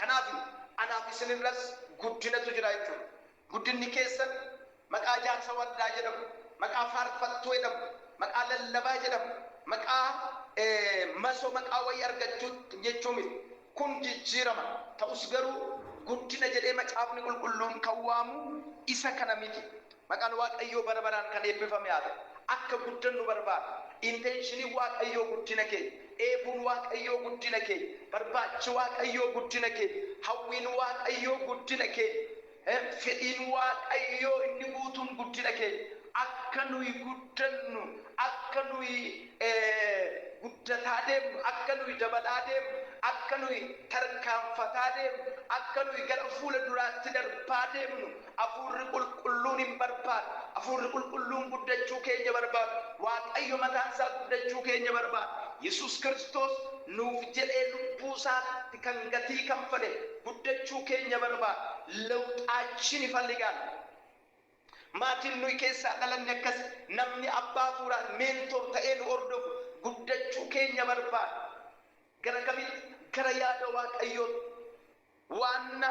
Kanaaf anaaf isin irras guddinatu jira jechuudha. Guddinni keessan maqaa jaarsa waldaa jedhamu, maqaa faarfattuu jedhamu, maqaa lallabaa jedhamu, maqaa masoo maqaa wayii argachuu jechuu miti. Kun jijjiirama. Ta'us garuu guddina jedhee macaafni qulqulluun kan waamu isa kana miti. Maqaan Waaqayyoo bara baraan kan eebbifame haa ta'u. Akka guddannu barbaada. Inteenshiniin Waaqayyoo guddina keenya. Dheebuun Waaqayyoo guddina keenya. Barbaachi Waaqayyoo guddina keenya. Hawwiin Waaqayyoo guddina keenya. Fedhiin Waaqayyoo inni guutuun guddina keenya. Akka nuyi guddannu, akka nuyi guddataa deemnu, akka nuyi dabalaa deemnu, akka nuyi tarkaanfataa deemnu, akka nuyi gara fuula duraatti darbaa deemnu, Afuurri Qulqulluun hin barbaadu. Afuurri Qulqulluun guddachuu keenya barbaadu. Waaqayyo mataan isaa guddachuu keenya barbaada. Yesuus Kiristoos nuuf jedhee lubbuu isaatti kan gatii kanfale guddachuu keenya barbaada. Lewuxaachin ifaligaalu. Maatiin nuyi keessaa dhalanne akkasi. Namni abbaa afuuraan, mentor, ta'ee nu hordofu guddachuu keenya barbaada. Gara kamitti? Gara yaada Waaqayyootti. Waanna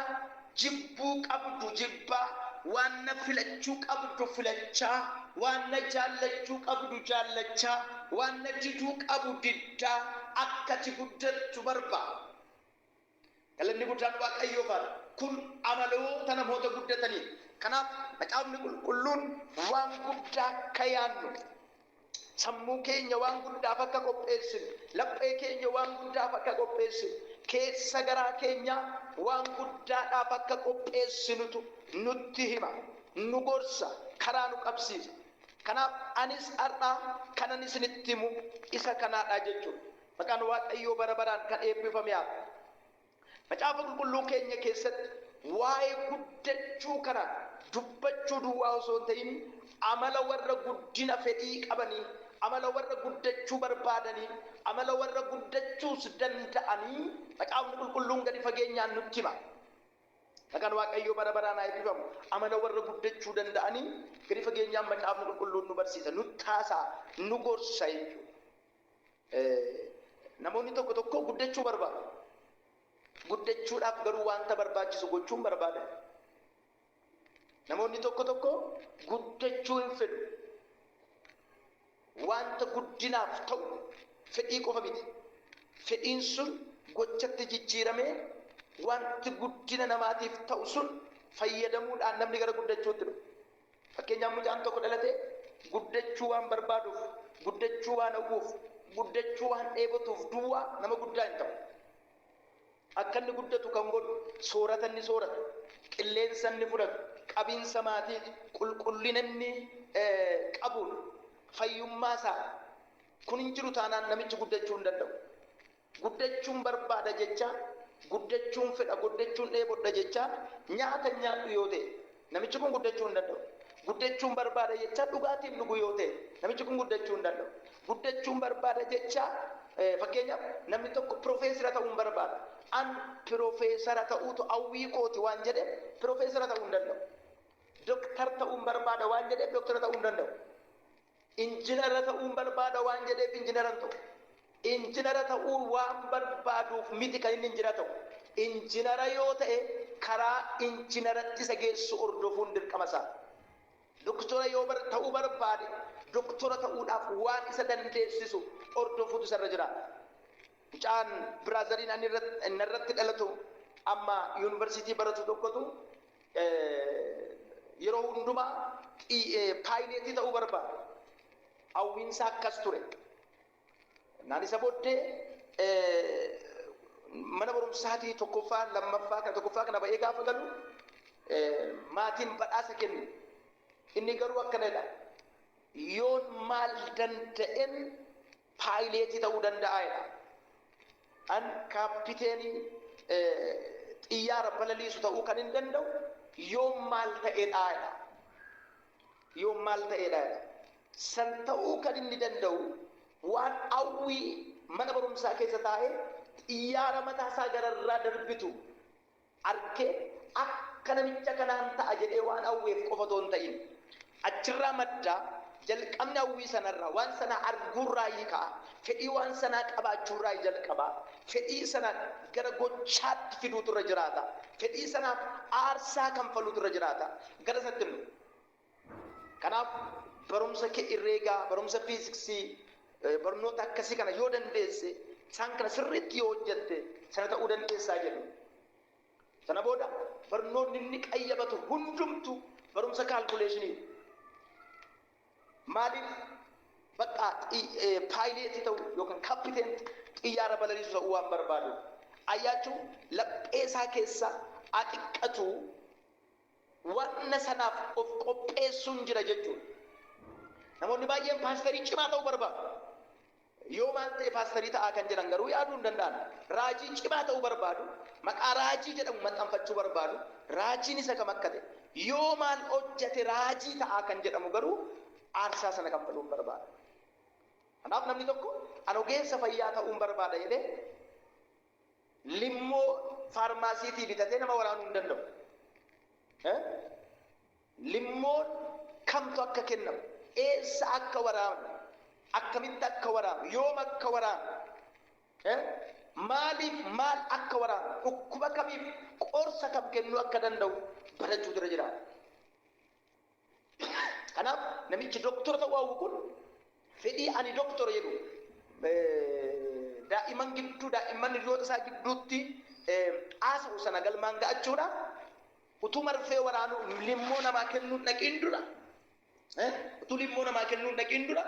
jibbuu qabdu jibbaa, waanna filachuu qabdu filachaa, waanna jaallachuu qabdu jaallachaa, waanna diduu qabu diddaa akka ati guddattu barbaada. Galanni guddaan Waaqayyoof haa ta'u! Kun amaloota namoota guddataniiti. Kanaaf, Macaafni Qulqulluun waan guddaa akka yaannu Sammuu keenya waan guddaaf akka qopheessinu, laphee keenya waan guddaaf akka qopheessinu, keessa garaa keenyaa waan guddaadhaaf akka qopheessinutu nutti hima, nu gorsa, karaa nu qabsiisa. Kanaaf anis har'a kanan isinitti himu isa kanaadha jechuudha. Maqaan Waaqayyoo bara baraan kan eebbifame haa ta'u. Macaafa Qulqulluu keenya keessatti waa'ee guddachuu kana dubbachuu duwwaa osoo hin ta'in, amala warra guddina fedhii qabanii, amala warra guddachuu barbaadanii, amala warra guddachuus danda'anii Macaafni Qulqulluun gadi fageenyaan nutti hima. Maqaan Waaqayyoo bara baraan haa eebbifamu. Amala warra guddachuu danda'anii gadi fageenyaan Macaafni Qulqulluun nu barsiisa, nutti haasa'a, nu gorsa jechuudha. Namoonni tokko tokko guddachuu barbaadu. Guddachuudhaaf garuu wanta barbaachisu gochuu hin barbaadan. Namoonni tokko tokko guddachuu hin fedhu. Wanta guddinaaf ta'u fedhii qofa miti. Fedhiin sun gochatti jijjiiramee wanti guddina namaatiif ta'u sun fayyadamuudhaan namni gara guddachuutti dhufa. Fakkeenyaaf mucaan tokko dhalatee guddachuu waan barbaaduuf, guddachuu waan hawwuuf, guddachuu waan dheebotuuf duwwaa nama guddaa hin ta'u. Akka inni guddatu kan godhu soorata inni sooratu, qilleensa inni fudhatu, qabiinsa maatiiti, qulqullina inni qabuudha, fayyummaa isaa. Kun hin jiru taanaan namichi guddachuu hin danda'u. Guddachuun barbaada jechaa, guddachuun fedha, guddachuun dheebodha jechaa nyaata hin nyaadhu yoo ta'e, namichi kun guddachuu hin danda'u. Guddachuun barbaada jechaa dhugaatii hin dhugu yoo ta'e, namichi kun guddachuu hin danda'u. Guddachuun barbaada jechaa, fakkeenyaaf, namni tokko pirofeesira ta'uun barbaada. An pirofeesara ta'uutu hawwii kooti waan jedheef pirofeesara ta'uu hin danda'u. Doktar ta'uun barbaada waan jedheef doktara ta'uu hin danda'u. Injinara ta'uun barbaada waan jedheef injinara hin ta'u. Injinara ta'uun waan barbaaduuf miti kan inni injinara ta'u. Injinara yoo ta'e karaa injinaratti isa geessu hordofuun dirqama isaa. Doktora yoo ta'uu barbaade doktora ta'uudhaaf waan isa dandeessisu hordofuutu isa irra jiraata. Mucaan biraazariin ani narratti dhalatu amma yuunivarsiitii baratu tokkotu Yeroo hundumaa paayileetii ta'uu barbaade. Hawwiinsaa akkas ture. Naan isa booddee mana barumsaatii tokkoffaa lammaffaa kana tokkoffaa kana ba'ee gaafa galu maatiin badhaasa kennu. Inni garuu akkana jedha. Yoon maal danda'en paayileetii ta'uu danda'a jedha. An kaappiteenii xiyyaara balaliisu ta'uu kan hin danda'u yoon maal ta'edha jedha. Yoon maal ta'edha jedha. San ta'uu kan inni danda'u waan hawwii mana barumsaa keessa taa'ee xiyyaara mataa isaa gararraa darbitu arke akka namicha kanaan ta'a jedhee waan hawweef qofa otoo hin ta'in achirraa madda, jalqabni hawwii sanarraa, waan sana arguurraayi ka'a, fedhii waan sanaa qabaachuurraayi jalqaba, fedhii sana gara gochaatti fiduutu irra jiraata, fedhii sanaaf aarsaa kanfaluutu irra jiraata, gara isatti immoo. Kanaaf barumsa kee irreegaa barumsa fiiziksii barnoota akkasii kana yoo dandeesse isaan kana sirriitti yoo hojjette sana ta'uu dandeessaa jedhu. Sana booda barnoonni inni qayyabatu hundumtu barumsa kaalkuleeshinii. Maaliif bakka paayileetii ta'u yookaan kappiteenti xiyyaara balaliisu ta'uu waan barbaadu. Ayyaachuu laphee isaa keessa axiqqatu wanna sanaaf of qopheessuun jira jechuudha. Namoonni baay'een paasterii cimaa ta'uu barbaadu. Yoo maal ta'e paasterii ta'aa kan jedhan garuu yaaduu hin danda'an. Raajii cimaa ta'uu barbaadu, maqaa raajii jedhamu maxxanfachuu barbaadu, raajiin isa kam akka ta'e, yoo maal hojjete raajii ta'aa kan jedhamu garuu aarsaa sana kaffaluu hin barbaadu. Kanaaf namni tokko an ogeessa fayyaa ta'uun barbaada jedhee Limmoo faarmaasiitii bitatee nama waraanuu hin danda'u. Limmoon kamtu akka kennamu, eessa akka waraanu, akkamitti akka waraanu, yoom akka waraanu, maaliif maal akka waraanu, dhukkuba kamiif qorsa kam kennuu akka danda'u barachuutu irra jiraata. Kanaaf namichi doktora ta'uu hawwu kun fedhii ani doktora jedhu daa'imman gidduu daa'imman hiriyoota isaa gidduutti haasa'u sana galmaan ga'achuudhaaf utuu marfee waraanuu limmoo namaa kennuun dhaqiin dura utuu limmoo namaa kennuun dhaqiin dura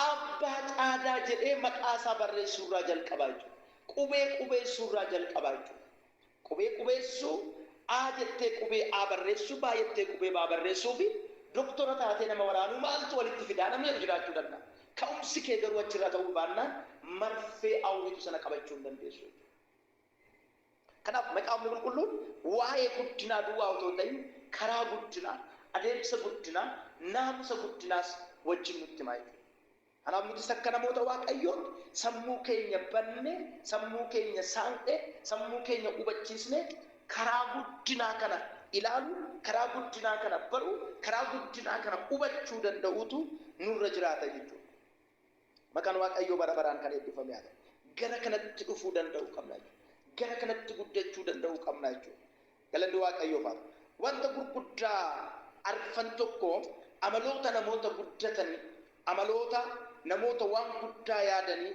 Abbaa Caadaa jedhee maqaa isaa barreessuu irraa jalqabaa jechuudha. Qubee qubeessuu irraa jalqabaa jechuudha. Qubee qubeessuu, A jettee qubee A barreessuu, B jettee qubee B barreessuu fi doktora taatee nama waraanuu maaltu walitti fidaa namni jedhu jiraachuu danda'a. Ka'umsi kee garuu achirraa ta'uu baannaan marfee Awwitu sana qabachuu hin dandeessu jechuudha. Kanaaf Macaafni Qulqulluun waa'ee guddinaa duwwaa otoo hin ta'in karaa guddinaa, adeemsa guddinaa, naamusa guddinaas wajjin nutti hima jechuudha. Kanaaf nutis akka namoota Waaqayyootti sammuu keenya bannee, sammuu keenya saaqnee, sammuu keenya hubachiisnee karaa guddinaa kana ilaaluu, karaa guddinaa kana baruu, karaa guddinaa kana hubachuu danda'uutu nurra jiraata jechuudha. Maqaan Waaqayyoo bara baraan kan eebbifame haa ta'u. Gara kanatti dhufuu danda'uu qabna jechuudha. Gara kanatti guddachuu danda'uu qabna jechuudha. Galanni Waaqayyoof haa ta'u. Wanta gurguddaa arfan tokko amaloota namoota guddatanii, amaloota namoota waan guddaa yaadanii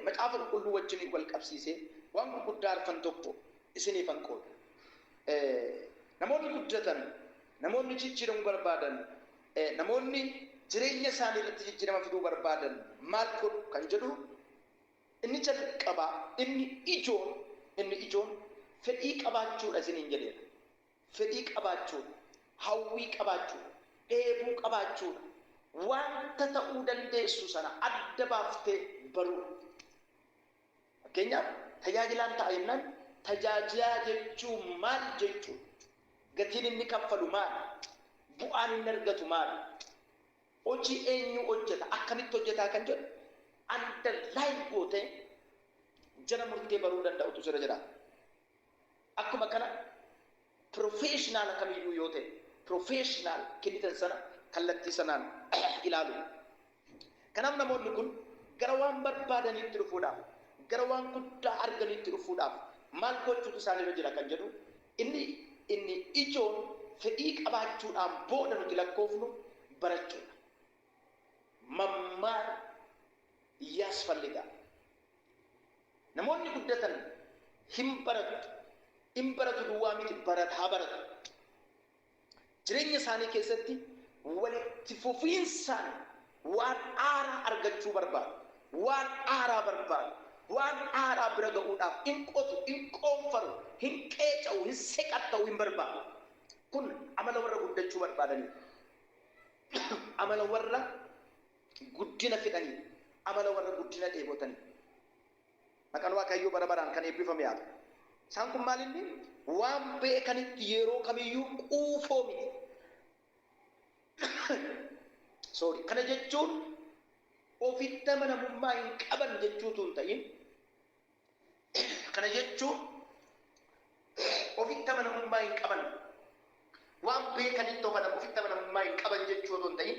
Macaafa Qulqulluu wajjiniin wal qabsiisee waan gurguddaa arfan tokko isiniifan qooda. Namoonni guddatan, namoonni jijjiiramuu barbaadan Namoonni jireenya isaanii irratti jijjiirama fiduu barbaadan maal godhu kan jedhu inni jalqabaa inni ijoon inni ijoon fedhii qabaachuudha isiniin jedheera. Fedhii qabaachuudha. Hawwii qabaachuudha. Dheebuu qabaachuudha. Wanta ta'uu dandeessu sana adda baaftee baruudha. Fakkeenyaaf, tajaajilaan ta'a jennaan tajaajiaa jechuun maal jechuudha? Gatiin inni kaffalu maali? Bu'aan inni argatu maali? Hojii eenyuu hojjeta? Akkamitti hojjetaa? Kan jedhu underline gootee jala murtee baruu danda'utu sirra jiraata. Akkuma kana professional kamiyyuu yoo ta'e professional kennitan sana kallattii sanaan ilaalu. Kanaaf namoonni kun gara waan barbaadaniitti dhufuudhaaf, gara waan guddaa arganiitti dhufuudhaaf maal gochuutu isaan irra jira kan jedhu inni inni ijoon fedhii qabaachuudhaan booda nuti lakkoofnu barachuudha. Mammaar yaasfalligaa. Namoonni guddatan hin baratu, in baratu duwwaa miti barataa baratu. Jireenya isaanii keessatti walitti fufiinsaan waan haaraa argachuu barbaadu, waan haaraa barbaadu, waan haaraa bira ga'uudhaaf in qotu, in qoonfaru, hin qeeca'u, hin seqatta'u, hin barbaadu. Kun amala warra guddachuu barbaadaniiti. Amala warra. Guddina fedhanii dha. Amala warra guddina dheebotanii. Maqan Waaqayyoo bara baraan kan eebbifame haa ta'u. Isaan kun maal inni? Waan beekanitti yeroo kamiyyuu quufoo miti. Sorry. Kana jechuun ofitti amanamummaa hin qaban jechuu utuu hin ta'in, kana jechuun ofitti amanamummaa hin qaban, waan beekanitti of anan ofitti amanamummaa hin qaban jechuu otoo hin ta'in,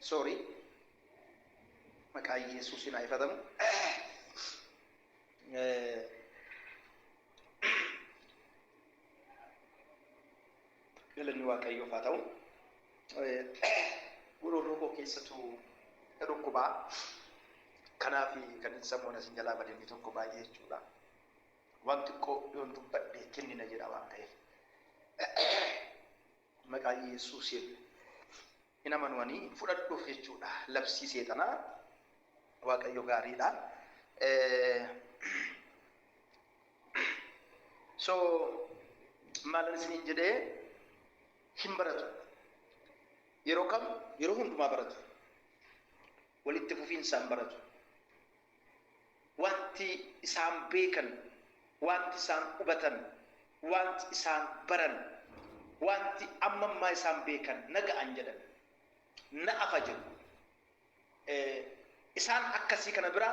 Sorry. Maqaa Yesuusiin haa ifatamu. Eh, Galanni Waaqayyoof haa ta'u. Eh, Gururroo koo keessatu na dhukkubaa. Kanaaf kan hin sammuun asin jalaa bade inni tokko baay'ee jechuudha. Waan xiqqoo yoon dubbadhe kennina jedha waan ta'eef. Maqaa Iyesuusiin hin amanu ani hin fudhadhuuf jechuudha labsii seexanaa waaqayyo gaariidha so maalan isiniin jedhee hin baratu yeroo kam yeroo hundumaa baratu walitti fufiinsaan baratu Wanti isaan beekan, wanti isaan hubatan, wanti isaan baran, wanti amma ammaa isaan beekan naga'an jedhame. Na'afa jedhu. Isaan akkasii kana bira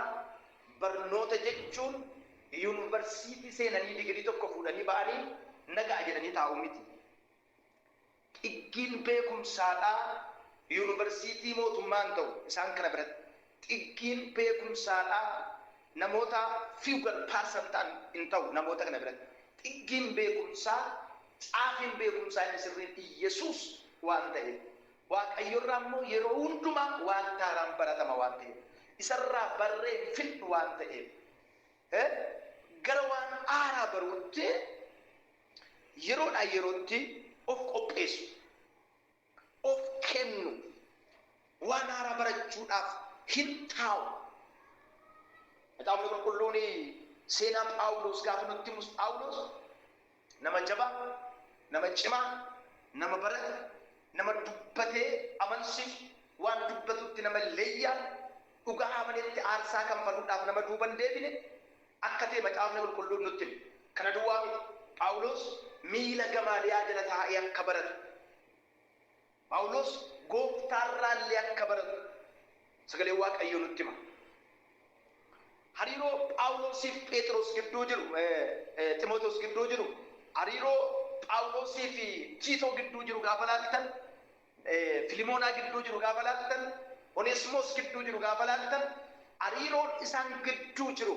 barnoota jechuun yunivarsiitii seenanii digirii tokko fuudhanii ba'anii naga'a jedhanii taa'uu miti. Xiggiin beekumsaadhaa yuunivarsiitii mootummaa hin ta'u isaan kana biratti. Xiggiin beekumsaadhaa namoota feudal person ta'an hin ta'u namoota kana biratti. Xiggiin beekumsaa, caafiin beekumsaa inni sirriin Iyyesuus waan ta'eef. Waaqayyorraa immoo yeroo hundumaa waanti haaraan baratama waan ta'eef. Isarraa barree hin fixnu waan ta'eef. Gara waan haaraa baruutti Yeroodhaa yerootti of qopheessu, of kennu, waan haaraa barachuudhaaf hin taa'u. Macaafni Qulqulluun seenaa Phaawulos gaafa nutti himus Phaawulos nama jabaa, nama cimaa, nama barate, nama dubbatee amansiisu, waan dubbatutti nama leeyyaa'u, dhugaa amanetti aarsaa kanfaluudhaaf nama duuba hin deebine, akka ta'e Macaafni Qulqulluun nutti hima. Kana duwwaa miti, Phaawulos miila Gamaaliyaa jala taa'ee akka baratu, Phaawulos Gooftaa irraa illee akka baratu Sagaleen Waaqayyoo nutti hima. Hariiroo Phaawulosii fi Pheexiros gidduu jiru, Ximootewoos gidduu jiru, hariiroo Phaawulosii fi Tiitoo gidduu jiru gaafa ilaaltan, Filimoonaa gidduu jiru gaafa laaltan, Oneesimoos gidduu jiru gaafa laaltan, hariiroon isaan gidduu jiru,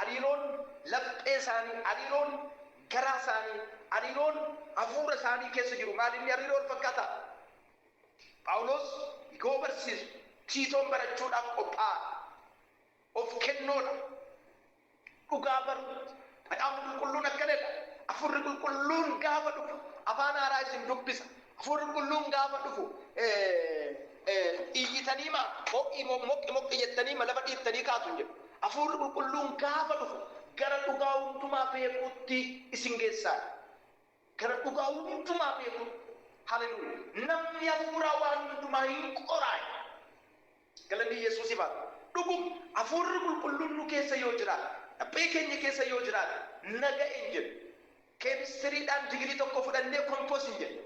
hariiroon laphee isaanii, hariiroon garaa isaanii, hariiroon hafuura isaanii keessa jiru maal inni hariiroo wal fakkaataa? Phaawuloos yoo barsiisu, Tiitoon barachuudhaaf qophaa'aa dha, of kennoo dha, dhugaa baruu miti. Macaafni Qulqulluun akkana jedha, Hafuurri Qulqulluun gaafa dhufu afaan haaraa isin dubbisa. Hafuurri Qulqulluun gaafa dhufu iyyitaniima ho'i mo- moqqi moqqi jettaniima lafa dhiittanii kaatu hin jedhu. Hafuurri Qulqulluun gaafa dhufu gara dhugaa hundumaa beekuutti isin geessaadha. Gara dhugaa hundumaa beekuu. Haleluya namni hafuuraa waan hundumaa hin qoraay galanni yesuusif haa ta'u dhugum hafuurri qulqulluun nu keessa yoo jiraate laphee keenya keessa yoo jiraate naga'e hin jennu keemistiriidhaan digirii tokko fudhannee kompoos hin jennu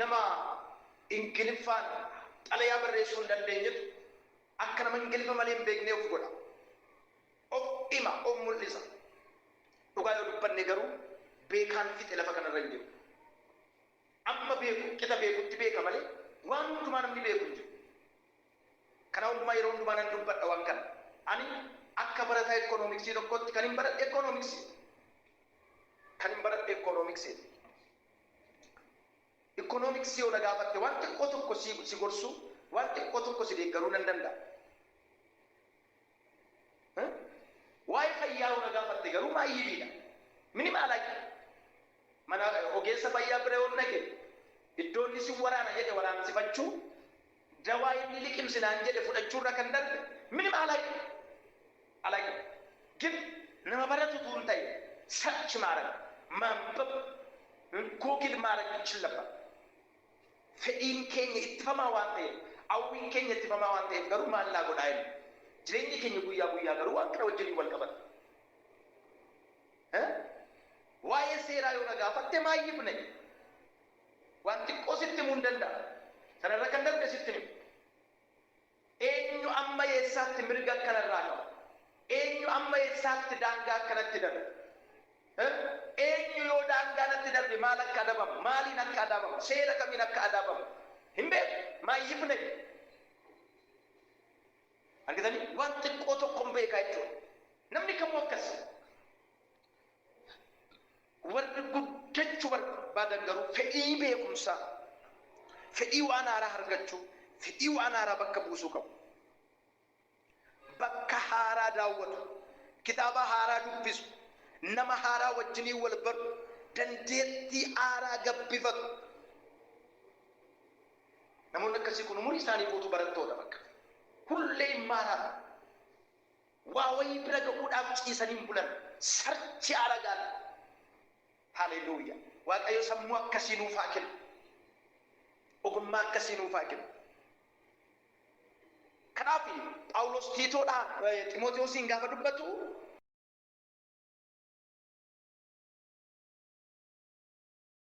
Nama Ingiliffaan xalayaa barreessuu hin dandeenyetu akka nama Ingiliffa malee hin beeknee of godha. Of hima, of mul'isa. Dhugaa yoo dubbanne garuu beekaan fixe lafa kanarra hin jiru. Amma beeku qixa beekutti beeka malee waan hundumaa namni beeku hin jiru. Kanaa hundumaa yeroo hundumaa nan dubbadha waan kana. Ani akka barataa Ikkonoomiksii tokkootti kanin baradhe Ikkonoomiksiidha. Kanin baradhe Ikkonoomiksiidha. Economics yoo na gaafatte waan xiqqoo tokko si si gorsuu waan xiqqoo tokko si deeggaruu nan danda'a. Eh? Waa'ee fayyaa yoo na gaafatte garuu maayyibiidha. Minimaala kee. Mana ogeessa fayyaa bira yoo dhaqe iddoo inni si waraana jedhe waraansifachuu Jawaa inni liqimsi naan jedhe fudhachuurra kan darbe minim alaqi alaqi gin nama baratu utuu hin ta'in search maarag maanbab google maarag ichillabba fedhiin keenya ittifamaa waan ta'eef awwiin keenya ittifamaa waan ta'eef garuu maal naa godhaa inni jireenyi keenya guyyaa guyyaa garuu waan kana wajjiniin wal qabata Waa'ee seeraa yoo na gaafatte maayyifne. Waan xiqqoo sitti himuun danda'a. Sana irra kan darbe sitti hin himu. Eenyu amma eessaatti mirga akka narraa qabu? Eenyu amma eessaatti daangaa akka natti darbe? Eenyu yoo daangaa natti darbe maal akka adabamu? Maaliin akka adabamu? Seera kamiin akka adabamu? Hin beeku. Maayyiif nayi. Argitanii? Waan xiqqoo tokkon beeka jechuudha. Namni kamuu akkas. Warri guddachuu barbaadan garuu fedhii beekumsaa, fedhii waan haaraa argachuu, fedhii waan haaraa bakka buusuu qabu. Bakka haaraa daawwatu, kitaaba haaraa dubbisu, nama haaraa wajjiniin wal baru, dandeettii haaraa gabbifatu. Namoonni akkasii kun umurii isaanii guutuu barattoota bakka. Hullee hin maaraan. Waa wayii bira ga'uudhaaf ciisanii hin bulan. Sarchi aragaan. Haleluuya. Waaqayyo sammuu akkasii nuuf haa kennu. Ogummaa akkasii nuuf haa kennu. Kanaaf Phaawulos Tiitoodhaa Ximootiyoosiin gaafa dubbatu